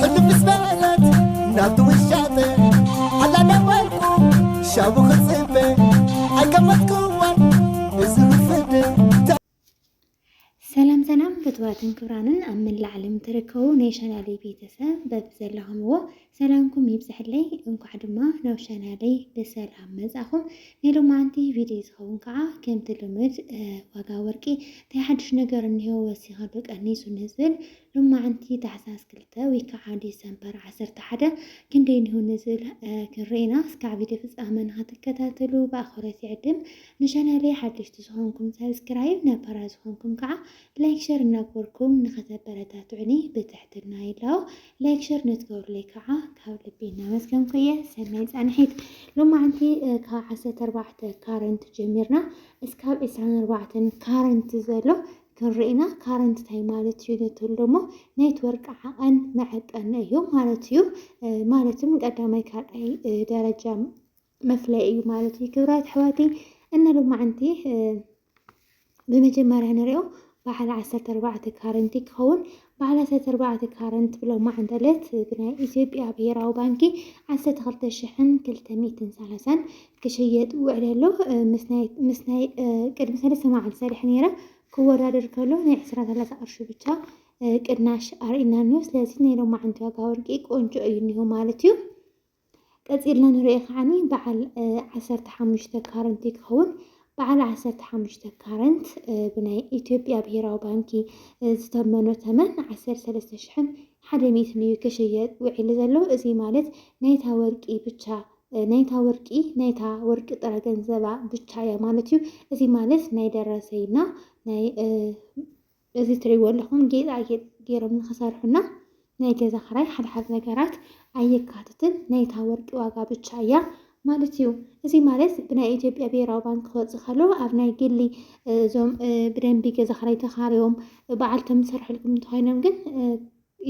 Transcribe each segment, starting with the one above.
ሕልም ምስ በለት ናብቲ ውሻጠ ኣላ ነበርኩ ሻቡ ክፅበ ኣይገመትኩዋን እዚ ክፍድ ሰላም ሰላም ፍትዋትን ክብራንን ኣብ መላእ ዓለም ትርከቡ ናይ ቻናለይ ቤተሰብ በብዘለኹምዎ ሰላምኩም ይብዝሐለይ እንኳዕ ድማ ናብ ቻናለይ ብሰላም መጻኹም ናይ ሎማንቲ ቪድዮ ዝኸውን ከዓ ከምቲ ልምድ ዋጋ ወርቂ እንታይ ሓድሽ ነገር እኒሆ ወሲኸሉ ቀኒሱ ንዝብል ሎማዕንቲ ታሕሳስ ክልተ ወይ ክዓ ዲሰምበር ዓሰርተ ሓደ ክንደይ እኒሆ ንዝብል ክንርኢ ኢና። እስካዕ ቪድዮ ፍፃመ ንክትከታተሉ ብኣክብሮት ይዕድም። ንቻናለይ ሓደሽቲ ዝኮንኩም ሳብስክራይብ ነባራት ዝኮንኩም ክዓ ላይክ ሸር እናገበርኩም ንክተበረታትዑኒ ብትሕትና ይላቦ። ላይክ ሸር ንትገብሩለይ ክዓ ካብ ልቢ እናመስገንኩ እየ። ሰናይ ፃንሒት። ሎማዕንቲ ካብ ዓሰርተ ኣርባዕተ ካረንት ጀሚርና እስካብ ዕስራን ኣርባዕተን ካረንት ዘሎ ክንርኢና ካረንት ታይ ማለት እዩ ንትብል ደሞ ኔትወርክ ዓቐን መዐቀኒ እዩ ማለት እዩ። ማለትም ቀዳማይ ካልኣይ ደረጃ መፍለይ እዩ ማለት እዩ። ክብራት ኣሕዋተይ እና ሎማዓንቲ ብመጀመርያ ንሪኦ በዓል ዓሰርተ ኣርባዕተ ካረንቲ ክኸውን ባዓላተ ተርባዕተ ካረንት ብሎ ማዕንተለት ብናይ ኢትዮጵያ ብሄራዊ ባንኪ ዓሰርተ ክልተ ሽሕን ክልተ ሚእትን ሰላሳን ክሽየጥ ውዕለ ኣሎ። ምስ ናይ ቅድሚ ሰለስተ መዓልቲ ሰሪሐ ነይረ ክወዳደር ከሎ ናይ ዕስራ ሰላሳ ቅርሺ ብቻ ቅናሽ ኣርእናኒ እዩ። ስለዚ ናይ ሎማዓንቲ ዋጋ ወርቂ ቆንጆ እዩ እኒሆ ማለት እዩ። ቀጺልና ንሪኦ ከዓኒ በዓል ዓሰርተ ሓሙሽተ ካረንት እዩ ክኸውን። በዓል ዓሰርተ ሓሙሽተ ካረንት ብናይ ኢትዮጵያ ብሄራዊ ባንኪ ዝተመኖ ተመን ዓሰርተ ሰለስተ ሽሕን ሓደ ሚእትን እዩ ክሽየጥ ውዒሉ ዘሎ። እዚ ማለት ናይታ ወርቂ ብቻ ናይታ ወርቂ ናይታ ወርቂ ጥረ ገንዘባ ብቻ እያ ማለት እዩ። እዚ ማለት ናይ ደረሰይና ናይ እዚ ትሪእዎ ኣለኹም ጌጣጌጥ ገይሮም ንክሰርሑና ናይ ገዛ ክራይ ሓድሓድ ነገራት ኣየካትትን ናይታ ወርቂ ዋጋ ብቻ እያ ማለት እዩ። እዚ ማለት ብናይ ኢትዮጵያ ብሄራዊ ባንክ ክወፅእ ከሎ ኣብ ናይ ግሊ እዞም ብደንቢ ገዛ ክራይ ተኻርዮም በዓልቶም ዝሰርሕልኩም እንተኾይኖም ግን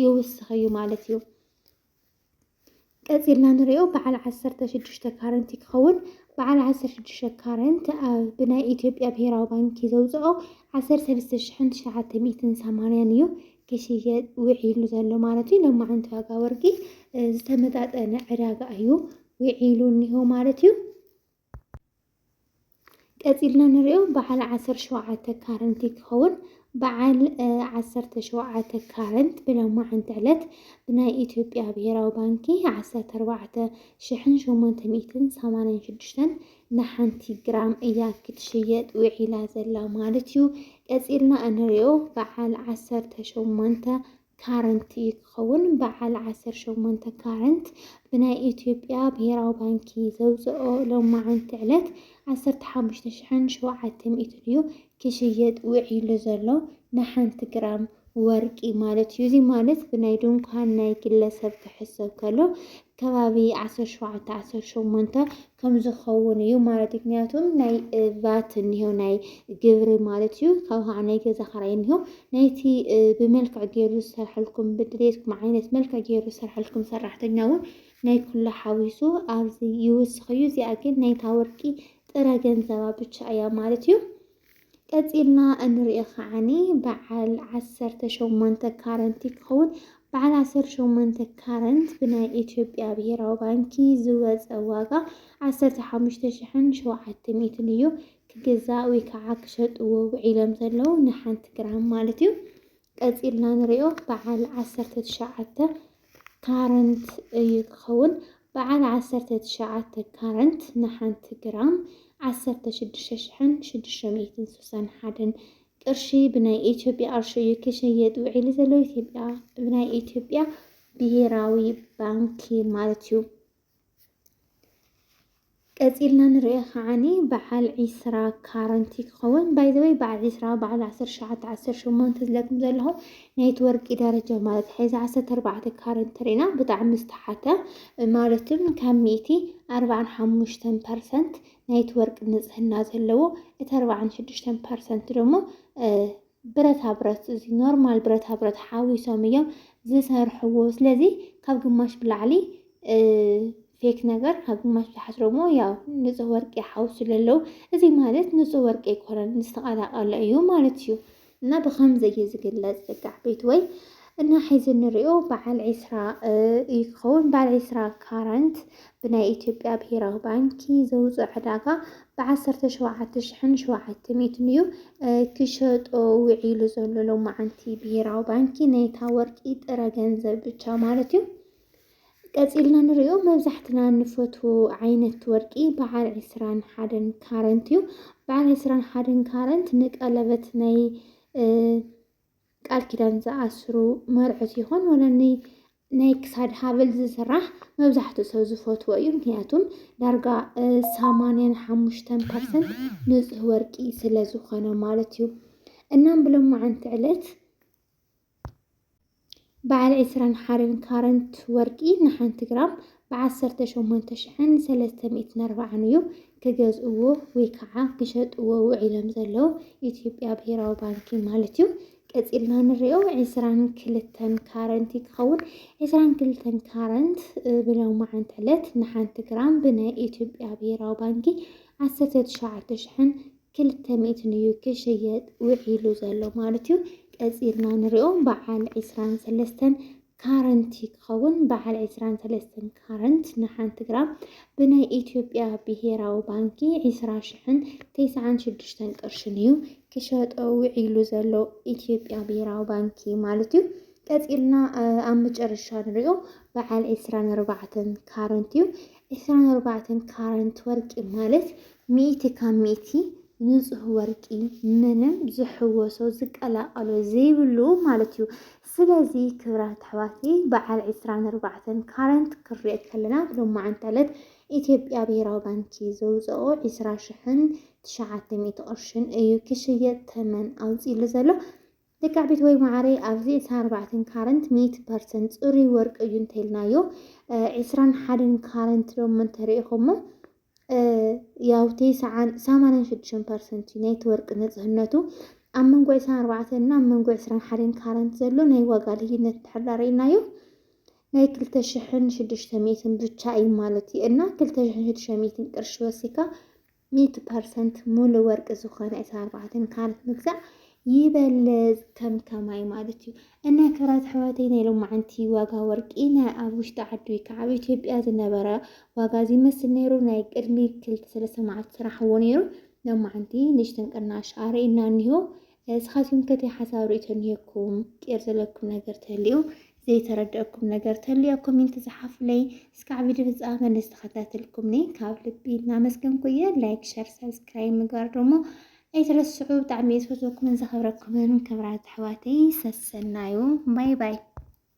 ይውስኽ እዩ ማለት እዩ። ቀፂልና ንሪኦ በዓል ዓሰርተ ሽዱሽተ ካረንት ክኸውን በዓል ዓሰርተ ሽዱሽተ ካረንት ብናይ ኢትዮጵያ ብሄራዊ ባንኪ ዘውፅኦ ዓሰርተ ሰለስተ ሽሕን ትሽዓተ ሚእትን ሰማንያን እዩ ክሽየጥ ውዒሉ ዘሎ ማለት እዩ። ሎሚ ዓንቲ ዋጋ ወርቂ ዝተመጣጠነ ዕዳጋ እዩ ውዒሉ እኒሆ ማለት እዩ። ቀጺልና ንሪኦ በዓል ዓሰርተ ሸውዓተ ካረንት ይከውን በዓል ዓሰርተ ሸውዓተ ካረንት ብሎማዓንቲ ዕለት ብናይ ኢትዮጵያ ብሄራዊ ባንኪ ዓሰርተ ኣርባዕተ ሽሕን ሸሞንተ ሚእትን ሰማንያን ሽዱሽተን ንሓንቲ ግራም እያ ክትሽየጥ ውዒላ ዘላ ማለት እዩ። ቀጺልና እንሪኦ በዓል ዓሰርተ ሸሞንተ ካረንት እዩ ክኸውን። በዓል ዓሰርተ ሸሞንተ ካረንት ብናይ ኢትዮጵያ ብሄራዊ ባንኪ ዘውፅኦ ሎማዕንቲ ዕለት ዓሰርተ ሓሙሽተ ሽሕን ሸውዓተ ሚእትን እዩ ክሽየጥ ውዒሉ ዘሎ ንሓንቲ ግራም ወርቂ ማለት እዩ። እዚ ማለት ብናይ ድንኳን ናይ ግለሰብ ክሕሰብ ከሎ ከባቢ ዓሰርተ ሸውዓተ ዓሰርተ ሸሞንተ ከምዝኸውን እዩ ማለት እዩ ምክንያቱም ናይ ቫት እኒሆ ናይ ግብሪ ማለት እዩ ካብ ከዓ ናይ ገዛ ኸራይ እኒሆ ናይቲ ብመልክዕ ገይሩ ዝሰርሐልኩም ብድሌትኩም ዓይነት መልክዕ ገይሩ ዝሰርሐልኩም ሰራሕተኛ እውን ናይ ኩሉ ሓዊሱ ኣብዚ ይውስኽ እዩ እዚኣ ግን ናይታ ወርቂ ጥረ ገንዘባ ብቻ እያ ማለት እዩ ቀጺልና እንሪኦ ከዓኒ በዓል ዓሰርተ ሸሞንተ ካረንት ክኸውን በዓል ዓሰርተ ሸሞንተ ካረንት ብናይ ኢትዮጵያ ብሄራዊ ባንኪ ዝወፀ ዋጋ ዓሰርተ ሓሙሽተ ሽሕን ሸውዓተ ሚእትን እዩ ክግዛእ ወይ ከዓ ክሸጥዎ ውዒሎም ዘለዉ ንሓንቲ ግራም ማለት እዩ ቀፂልና ንሪኦ በዓል ዓሰርተ ትሽዓተ ካረንት እዩ ክኸውን። በዓል ዓሰርተ ትሽዓተ ካረንት ንሓንቲ ግራም ዓሰርተ ሽዱሽተ ሽሕን ሽዱሽተ ሚእትን ስሳን ሓደን ቅርሺ ብናይ ኢትዮጵያ ቅርሺ እዩ ክሸየጥ ውዒሉ ዘሎ ኢትዮጵያ ብናይ ኢትዮጵያ ብሄራዊ ባንኪ ማለት እዩ። ቀጺልና ንሪኦ ከዓኒ በዓል ዒስራ ካረንቲ ክኸውን ባይዘወይ በዓል ዒስራ በዓል ዓሰርተ ሸዓተ ዓሰርተ ሸሞንተ ዝለኩም ዘለኹ ናይቲ ወርቂ ደረጃ ማለት ሕዚ ዓሰርተ ኣርባዕተ ካረንቲ ርኢና ብጣዕሚ ዝተሓተ ማለትም ካብ ሚእቲ ኣርባዓን ሓሙሽተን ፐርሰንት ናይቲ ወርቂ ንጽህና ዘለዎ እቲ ኣርባዓን ሽዱሽተን ፐርሰንት ደሞ ብረታ ብረት እዚ ኖርማል ብረታ ብረት ሓዊሶም እዮም ዝሰርሕዎ። ስለዚ ካብ ግማሽ ብላዕሊ ፌክ ነገር ካብ ግማሽ ብታሕት ደግሞ ያው ንፁህ ወርቂ ይሓውሱ ለለው እዚ ማለት ንፁህ ወርቂ ኣይኮነን ዝተቐላቀለ እዩ ማለት እዩ እና ብከምዚ እዩ ዝግለፅ ዝጋዕ ቤት ወይ እና ሒዚ ንሪኦ በዓል ዒስራ እዩ ክኸውን በዓል ዒስራ ካራንት ብናይ ኢትዮጵያ ብሄራዊ ባንኪ ዘውፅኦ ዕዳጋ ብ ዓሰርተ ሸውዓተ ሽሕን ሸውዓተ ሚእትን እዩ ክሸጦ ውዒሉ ዘሎ ሎማዓንቲ ብሄራዊ ባንኪ ናይታ ወርቂ ጥረ ገንዘብ ብቻ ማለት እዩ። ቀፂልና ንሪኦ መብዛሕትና ንፈትዎ ዓይነት ወርቂ በዓል ዕስራን ሓደን ካረንት እዩ። በዓል ዕስራን ሓደን ካረንት ንቀለበት ናይ ቃል ኪዳን ዝኣስሩ መርዑት ይኹን ወለኒ ናይ ክሳድ ሃብል ዝስራሕ መብዛሕትኡ ሰብ ዝፈትዎ እዩ። ምክንያቱም ዳርጋ ሰማንያን ሓሙሽተን ፐርሰንት ንፁህ ወርቂ ስለ ዝኾነ ማለት እዩ። እናም ብሎማዓንቲ ዕለት በዓል ዕስራን ሓርን ካረንት ወርቂ ንሓንቲ ግራም ብዓሰርተ ሸሞንተ ሽሕን ሰለስተ ሚእትን ኣርባዓን እዩ ክገዝእዎ ወይ ከዓ ክሸጥዎ ውዒሎም ዘለዉ ኢትዮጵያ ብሄራዊ ባንኪ ማለት እዩ። ቀፂልና ንሪኦ ዕስራን ክልተን ካረንት እዩ ክኸውን ዕስራን ክልተን ካረንት ብሎማዓንቲ ዕለት ንሓንቲ ግራም ብናይ ኢትዮጵያ ብሄራዊ ባንኪ ዓሰርተ ትሽዓተ ሽሕን ክልተ ሚእትን እዩ ክሽየጥ ውዒሉ ዘሎ ማለት እዩ። ቀፂልና ንሪኦ በዓል ዕስራን ሰለስተን ካረንት ክኸውን በዓል ዕስራን ሰለስተን ካረንት ንሓንቲ ግራም ብናይ ኢትዮጵያ ብሄራዊ ባንኪ ዕስራ ሽሕን ተስዓን ሽዱሽተን ቅርሽን እዩ ክሸጦ ውዒሉ ዘሎ ኢትዮጵያ ብሄራዊ ባንኪ ማለት እዩ። ቀፂልና ኣብ መጨረሻ ንሪኦ በዓል ዕስራን ኣርባዕተን ካረንት እዩ። ዕስራን ኣርባዕተን ካረንት ወርቂ ማለት ሚእቲ ካብ ሚእቲ ንጹህ ወርቂ ምንም ዝሕወሶ ዝቀላቀሎ ዘይብሉ ማለት እዩ። ስለዚ ክብራት ኣሕዋቲ በዓል ዕስራን ኣርባዕተን ካረንት ክሪኦ ከለና ብሎማዓንቲ ዕለት ኢትዮጵያ ብሄራዊ ባንኪ ዘውፀኦ ዕስራ ሽሕን ትሽዓተ ሚእቲ ቅርሽን እዩ ክሽየጥ ተመን ኣውፂሉ ዘሎ። ልክዕ ቤትወይ ማዓረይ ኣብዚ ዕስራን ኣርባዕተን ካረንት ሚእቲ ፐርሰንት ፅሩይ ወርቂ እዩ እንተልናዮ ዕስራን ሓደን ካረንት ዶሞ እንተሪኢኹሞ ያው ቴስዓን ሰማንያን ሽዱሽተን ፐርሰንት እዩ ናይቲ ወርቂ ንፅህነቱ ኣብ መንጎ ዕስራን ኣርባዕተን እና ኣብ መንጎ ዕስራን ሓደን ካረንት ዘሎ ናይ ዋጋ ልዩነት እንድሕር ዳ ርኢናዮ ናይ ክልተ ሽሕን ሽዱሽተ ሚእትን ብቻ እዩ ማለት እዩ እና ክልተ ሽሕን ሽዱሽተ ሚእትን ቅርሺ ወሲካ ሚእቲ ፐርሰንት ሙሉ ወርቂ ዝኾነ ዕስራ ኣርባዕተ ካራት ምግዛእ ይበልፅ ከም ከማይ ማለት እዩ እና ክብራት ኣሕዋተይ ናይ ሎማዓንቲ ዋጋ ወርቂ ናይ ኣብ ውሽጢ ዓዲ ወይ ከዓ ኣብ ኢትዮጵያ ዝነበረ ዋጋ ዝመስል ነይሩ ናይ ቅድሚ ክልተ ሰለስተ መዓልቲ ስራሕዎ ነይሩ ሎማዓንቲ ንእሽተን ቅናሽ ኣርእና እኒሆ እስኻትኩም ከ ሓሳብ ርእቶ እኒሄኩም ቄር ዘለኩም ነገር ተልዩ ዘይተረደኣኩም ነገር ተልዩ ኣብ ኮሜንት ዝሓፉለይ እስካዕ ቪድዮ ፍጻመ ንዝተኸታተልኩምኒ ካብ ልቢ እናመስገንኩ እየ ላይክ ሸር ሰብስክራይብ ምግባር ደሞ ኣይትረስዑ ብጣዕሚ ዝፈትወኩምን ዘኸብረኩምን ክብራት ኣሕዋተይ ሰሰናዩ ባይ ባይ